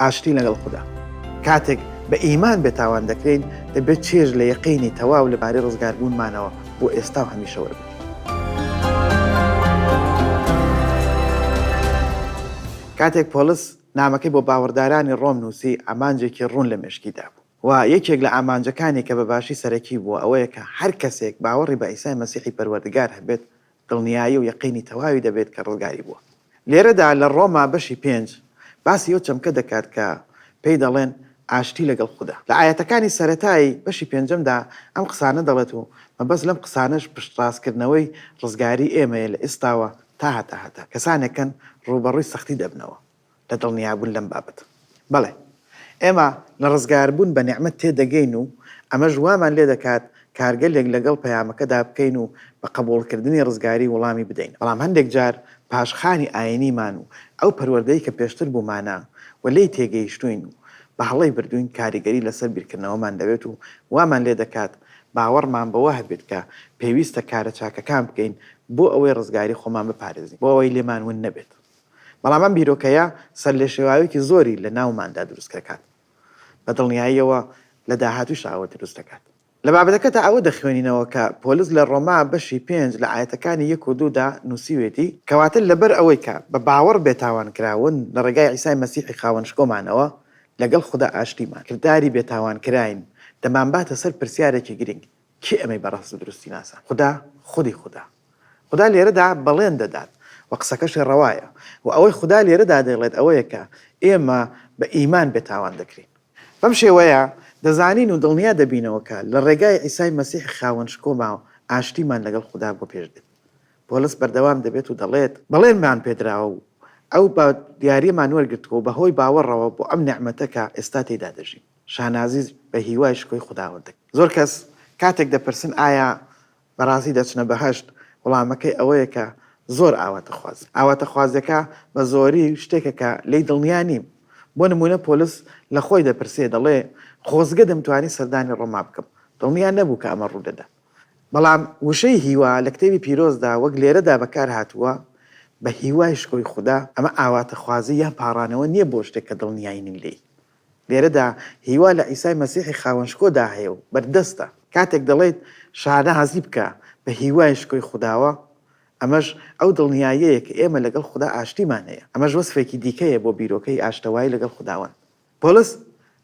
ئاشتی لەگەڵ خودا. کاتێک بە ئیمان بێتاوان دەکرێین، دەبێت چێژ لە یەقینی تەواو لەبارەی ڕزگاربوونمانەوە بۆ ئێستا و هەمیشە وەربگرین. کاتێک پۆڵس نامەکەی بۆ باوەڕدارانی ڕۆم نووسی، ئامانجێکی ڕوون لە مێشکی دابوو و یەکێک لە ئامانجەکانی کە بە باشی سەرەکی بووە ئەوەیە کە هەر کەسێک باوەڕی بە عیسای مەسیحی پەروەردگار هەبێت، دڵنیایی و یەقینی تەواوی دەبێت کە ڕزگاری بووە. لێرەدا لە ڕۆما بەشی پێنج باسی ئەو چەمکە دەکات کە پێی دەڵێن ئاشتی لەگەڵ خودا. لە ئایەتەکانی سەرەتای بەشی پێنجەمدا ئەم قسانە دەڵێت و مەبەست لەم قسانەش پشتڕاستکردنەوەی ڕزگاری ئێمەیە لە ئێستاوە تا هەتاهەتە. کەسانێکن ڕووبەڕووی سەختی دەبنەوە. لە دڵنیابوون لەم بابەتە. بەڵێ، ئێمە لە ڕزگاربوون بە نیعمەت تێدەگەین و ئەمەش وامان لێ دەکات کارگەلێک لەگەڵ پەیامەکەدا بکەین و بە قەبووڵکردنی ڕزگاری وڵامی بدەین. بەڵام هەندێک جار پاشخانی ئایینیمان و ئەو پەروەردەی کە پێشتر بوومانە و لێی تێگەیشتووین و بە هەڵەی بردووین کاریگەری لەسەر بیرکردنەوەمان دەبێت و وامان لێ دەکات باوەڕمان بەوە هەبێت کە پێویستە کارە چاکەکان بکەین بۆ ئەوەی ڕزگاری خۆمان بپارێزین بۆ ئەوەی لێمان ون نەبێت. بەڵام ئەم بیرۆکەیە سەرلێشێواوێکی زۆری لە ناوماندا دروستکەکات، بە دڵنیاییەوە لە داهاتووش ئەوە دروست دەکات. لە بابەتەکەدا ئەوە دەخوێنینەوە کە پۆلس لە ڕۆما بەشی پێنج لە ئایەتەکانی یەک و دوو دا نووسیوێتی، کەواتە لەبەر ئەوەی کە بە باوەڕ بێتاوان کراوون لە ڕێگای عیسای مەسیحی خاوەن شکۆمانەوە لەگەڵ خودا ئاشتیمان کرداری بێتاوان کراین دەمانباتە سەر پرسیارێکی گرنگ، کێ ئەمەی بەڕەست و دروستی ناسا؟ خودا، خودی خودا. خودا لێرەدا بەڵێن دەدات و قسەکەشی ڕەوایە و ئەوەی خودا لێرەدا دەیڵێت ئەوەیە کە ئێمە بە ئیمان بێتاوان دەکرین. بەم شێوەیە دەزانین و دڵنیا دەبینەوە کە لە ڕێگای عیسای مەسیح خاوەن شکۆمان و ئاشتیمان لەگەڵ خودا بۆ پێش دێت. پۆلس بەردەوام دەبێت و دەڵێت، بەڵێنمان پێدراوە و ئەو بە دیاریمان وەرگرتووە و بەهۆی باوەڕەوە بۆ ئەم نیعمەتە کە ئێستا تێیدا دەژین. شانازی بە هیوای شکۆی خوداوەندەکەی. زۆر کەس کاتێک دەپرسن ئایا بەڕاستی دەچنە بەهەشت، وڵامەکەی ئەوەیە کە زۆر ئاواتەخوازن. ئاواتەخوازیەکە بە زۆری شتێکە کە لێی دڵنیا نیم. بۆ نموونە پۆلس لە خۆی دەپرسێ دەڵێ خۆزگە دەمتوانی سەردانی ڕۆما بکەم. دڵنیا نەبوو کە ئەمە ڕوودەدا. بەڵام وشەی هیوا لە کتێبی پیرۆزدا وەک لێرەدا بەکار هاتووە بە هیوای شکۆی خودا، ئەمە ئاواتەخوازی یان پاڕانەوە نیە بۆ شتێک کە دڵنیای نین لێی. لێرەدا هیوا لە عیسای مەسیحی خاوەن شکۆدا هەیە و بەردەستە. کاتێک دەڵێیت شانازی بکە بە هیوای شکۆی خوداوە، ئەمەش ئەو دڵنیاییەیە کە ئێمە لەگەڵ خودا ئاشتیمان هەیە. ئەمەش وەسفێکی دیکەیە بۆ بیرۆکەی ئاشتەوایی لەگەڵ خوداوەند. پۆلس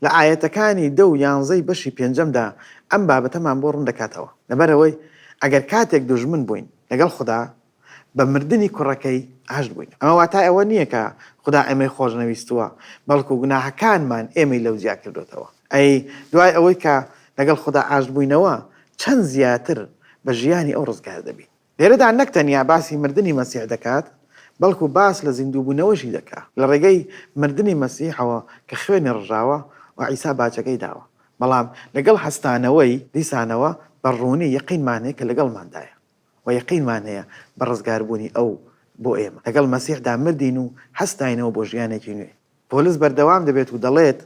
لە ئایەتەکانی دە و یانزەی بەشی پێنجەمدا ئەم بابەتەمان بۆ ڕوون دەکاتەوە، لەبەرئەوەی ئەگەر کاتێک دوژمن بووین لەگەڵ خودا، بە مردنی کوڕەکەی عەشت بووین. ئەمە واتای ئەوە نییە کە خودا ئێمەی خۆش نەویستووە، بەڵکو گوناهەکانمان ئێمەی لەو جیا کردۆتەوە. ئەی دوای ئەوەی کە لەگەڵ خودا عەشت بووینەوە، چەند زیاتر بە ژیانی ئەو ڕزگار دەبین! لێرەدا نەک تەنیا باسی مردنی مەسیح دەکات، بەڵکو باس لە زیندووبوونەوەشی دەکا. لە ڕێگەی مردنی مەسیحەوە کە خوێنی ڕژاوە و عیسا باجەکەی داوە. بەڵام لەگەڵ هەستانەوەی، دیسانەوە بە ڕوونی یەقینمان هەیە کە لەگەڵماندایە. وە یەقینمان هەیە بە ڕزگاربوونی ئەو بۆ ئێمە لەگەڵ مەسیحدا مردین و هەستاینەوە بۆ ژیانێکی نوێ. پۆلس بەردەوام دەبێت و دەڵێت،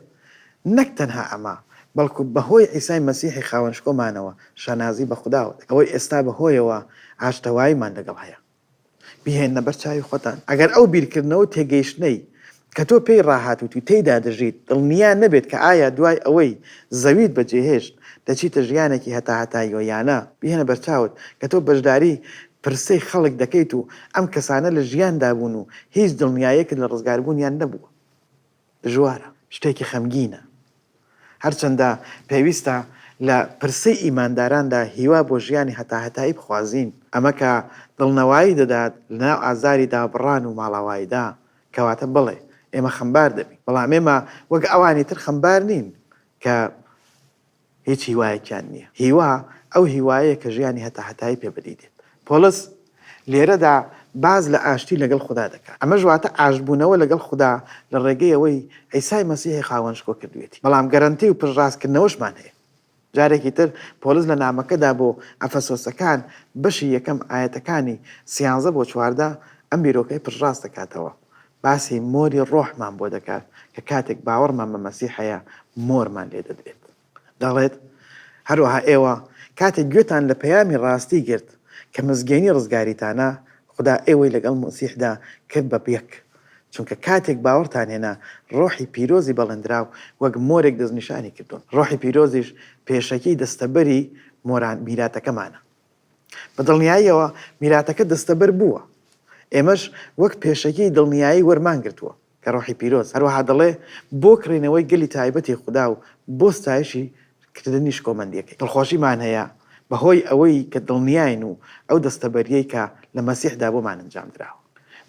نەک تەنها ئەمە، بەڵکو بەهۆی عیسای مەسیحی خاوەن شکۆمانەوە شانازی بە خودا وەک ئەوەی ئێستا بەهۆیەوە ئاشتەواییمان لەگەڵ هەیە. بیهێننە بەر چاوی خۆتان ئەگەر ئەو بیرکردنەوە و تێگەیشتنەی کە تۆ پێی ڕاهاتوویت و تێیدا دەژیت، دڵنیا نەبێت کە ئایا دوای ئەوەی زەویت بەجێهێشت، دەچیتە ژیانێکی هەتاهەتاییەوە یان نا. بیهێنە بەرچاوت کە تۆ بەشداری پرسەی خەڵک دەکەیت و ئەم کەسانە لە ژیاندا بوون و هیچ دڵنیاییەکت لە ڕزگاربوونیان نەبووە. دژوارە. شتێکی خەمگینە. هەرچەندە پێویستە لە پرسەی ئیمانداراندا هیوا بۆ ژیانی هەتاهەتایی بخوازین، ئەمە کە دڵنەوایی دەدات لەناو ئازاری دابڕان و ماڵاواییدا، کەواتە بەڵێ ئێمە خەمبار دەبین، بەڵام ئێمە وەک ئەوانی تر خەمبار نین کە هیچ هیوایەکیان نییە. هیوا ئەو هیوایەیە کە ژیانی هەتاهەتایی پێ بەدی دێت. پۆڵس لێرەدا باس لە ئاشتی لەگەڵ خودا دەکات. ئەمەش واتە ئاشتبوونەوە لەگەڵ خودا لە ڕێگەی ئەوەی عیسای مەسیحی خاوەن شکۆ کردوویەتی. بەڵام گەرەنتی و پشتڕاستکردنەوەشمان هەیە. جارێکی تر پۆلس لە نامەکەدا بۆ ئەفەسۆسەکان بەشی یەکەم ئایەتەکانی سیانزە بۆ چواردە ئەم بیرۆکەی پشتڕاست دەکاتەوە، باسی مۆری ڕۆحمان بۆ دەکات کە کاتێک باوەڕمان بە مەسیح هەیە مۆرمان لێ دەدرێت. دەڵێت، هەروەها ئێوە کاتێک گوێتان لە پەیامی ڕاستی گرت کە مزگێنی ڕزگاریتانە، خودا ئێوەی لەگەڵ مەسیحدا کرد بە یەک، چونکە کاتێک باوەڕتان هێنا، ڕۆحی پیرۆزی بەڵێندراو وەک مۆرێک دەستنیشانی کردوون. ڕۆحی پیرۆزیش پێشەکی دەستەبەری مۆران، میراتەکەمانە. بە دڵنیاییەوە میراتەکە دەستەبەر بووە، ئێمەش وەک پێشەکی دڵنیایی وەرمان گرتووە. کە ڕۆحی پیرۆز هەروەها دەڵێ، بۆ کڕینەوەی گەلی تایبەتی خودا و بۆ ستایشی کردنی شکۆمەندییەکەی. دڵخۆشیمان هەیە بە هۆی ئەوەی کە دڵنیاین و ئەو دەستەبەرییەی کە لە مەسیحدا بۆمان ئەنجام دراوە.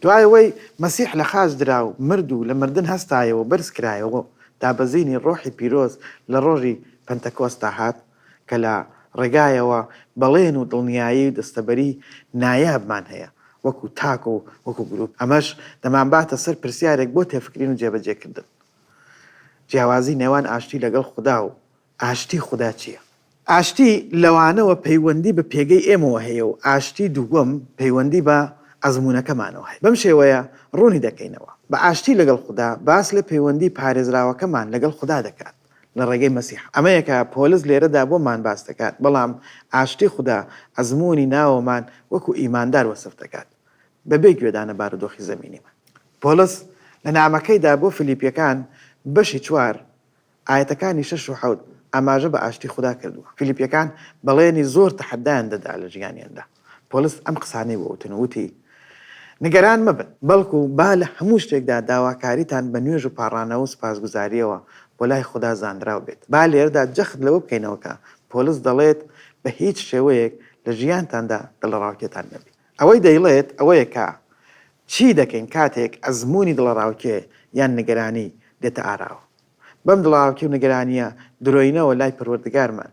دوای ئەوەی مەسیح لە خاچ درا و مرد و لە مردن هەستایەوە و بەرز کرایەوە و دابەزینی ڕۆحی پیرۆز لە ڕۆژی پەنتەکۆستا هات، کە لە ڕێگایەوە بەڵێن و دڵنیایی و دەستەبەری نایابمان هەیە وەکو تاک و وەکو گروپ، ئەمەش دەمانباتە سەر پرسیارێک بۆ تێفکرین و جێبەجێکردن، جیاوازی نێوان ئاشتی لەگەڵ خودا و ئاشتی خودا چییە؟ ئاشتی لەوانەوە پەیوەندی بە پێگەی ئێمەوە هەیە و ئاشتی دووەم پەیوەندی بە ئەزموونەکەمانەوە هەیە. بەم شێوەیە ڕوونی دەکەینەوە. بە ئاشتی لەگەڵ خودا باس لە پەیوەندی پارێزراوەکەمان لەگەڵ خودا دەکات. لە ڕێگەی مەسیح. ئەمەیە کە پۆلس لێرەدا بۆمان باس دەکات، بەڵام ئاشتی خودا ئەزموونی ناوەمان وەکو ئیماندار وەسف دەکات، بەبێ گوێدان لە بارودۆخی زەمینیمان. پۆلس لە نامەکەیدا بۆ فیلیپییەکان بەشی چوار ئایەتەکانی شەش و حەوت ئاماژە بە ئاشتی خودا کردووە. فیلیپییەکان بەڵێنی زۆر تەحەدایان دەدا لە ژیانیاندا. پۆلس ئەم قسانەی بۆ وتن و وتی، نیگەران مەبن، بەڵکو با لە هەموو شتێکدا داواکاریتان بە نوێژ و پاڕانەوە و سوپاسگوزارییەوە بۆ لای خودا زانراو بێت. با لێرەدا جەخت لەوە بکەینەوە کە پۆلس دەڵێت بە هیچ شێوەیەک لە ژیانتاندا دڵەڕاوکێتان نەبێت. ئەوەی دەیڵێت ئەوەیە کە چی دەکەین کاتێک ئەزموونی دڵەڕاوکێ یان نیگەرانی دێتە ئاراوە. بەم دڵەڕاوکێ و نیگەرانییە درۆینەوە لای پەروەردگارمان،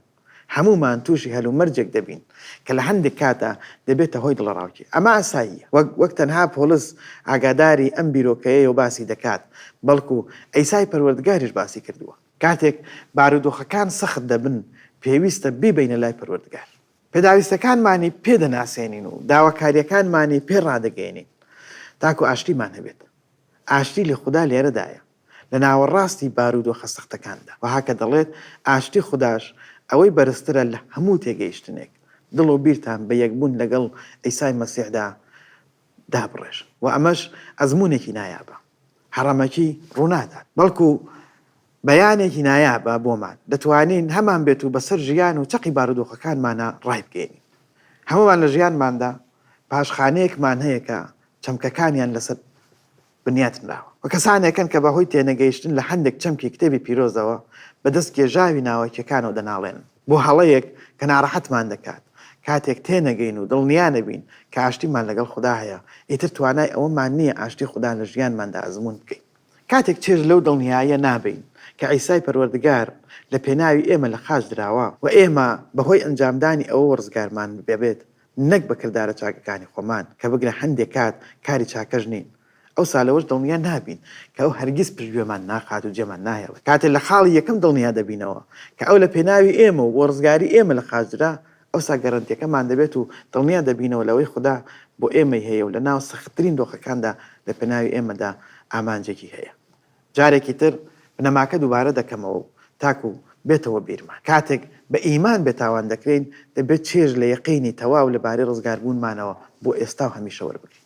هەموومان تووشی هەلومەرجێک دەبین کە لە هەندێک کاتدا دەبێتە هۆی دڵەڕاوکێ. ئەمە ئاساییە. وەک وەک تەنها پۆڵس ئاگاداری ئەم بیرۆکەیەی و باسی دەکات، بەڵکو عیسای پەروەردگاریش باسی کردووە. کاتێک بارودۆخەکان سەخت دەبن، پێویستە بیبەینە لای پەروەردگار. پێداویستەکانمانی پێ دەناسێنین و داواکارییەکانمانی پێ ڕادەگەیەنین تاکو ئاشتیمان هەبێت. ئاشتی لە خودا لێرەدایە. لە ناوەڕاستی بارودۆخە سەختەکاندا، وەها کە دەڵێت، ئاشتی خوداش ئەوەی بەرزترە لە هەموو تێگەیشتنێک، دڵ و بیرتان بە یەکبوون لەگەڵ عیسای مەسیحدا دابڕێژن و ئەمەش ئەزموونێکی نایابە هەڕەمەکی ڕوونادات، بەڵکو بەیانێکی نایابە بۆمان، دەتوانین هەمانبێت و بەسەر ژیان و چەقی بارودۆخەکانمانا ڕایبگەیەنین. هەموومان لە ژیانماندا پاشخانەیەکمان هەیە کە چەمکەکانیان لەسەر بنیاتنراوە و کەسانێکن کە بەهۆی تێنەگەیشتن لە هەندێک چەمکی کتێبی پیرۆزەوە بە دەست کێژاوی ناوەکیەکانەوە دەناڵێنن بۆ هەڵەیەک کە ناڕەحەتمان دەکات کاتێک تێنەگەین و دڵنیا نەبین کە ئاشتیمان لەگەڵ خودا هەیە ئیتر توانای ئەوەمان نییە ئاشتی خودا لە ژیانماندا ئەزموون بکەین کاتێک چێژ لەو دڵنیاییە نابەین کە عیسای پەروەردگار لە پێناوی ئێمە لە خاچ دراوە و ئێمە بەهۆی ئەنجامدانی ئەوەوە ڕزگارمان ببێت نەک بە کردارە چاکەکانی خۆمان، کە بگرە هەندێ کات کاری چاکەش نین، ئەوسا لەوەش دڵنیا نابین کە ئەو هەرگیز پشتگوێمان ناخات و جێمان ناهێڵێت، کاتێ لە خاڵی یەکەم دڵنیا دەبینەوە کە ئەو لە پێناوی ئێمە و بۆ ڕزگاری ئێمە لە خاچدرا، ئەوسا گەرەنتیەکەمان دەبێت و دڵنیا دەبینەوە لەوەی خودا بۆ ئێمەی هەیە و لە ناو سەختترین دۆخەکاندا لە پێناوی ئێمەدا ئامانجێکی هەیە. جارێکی تر بنەماکە دووبارە دەکەمەوە و تاکو بێتەوە بیرمان. کاتێک بە ئیمان بێتاوان دەکرێین، دەبێت چێژ لە یەقینی تەواو لەبارەی ڕزگاربوونمانەوە بۆ ئێستا و هەمیشە وەربگرین.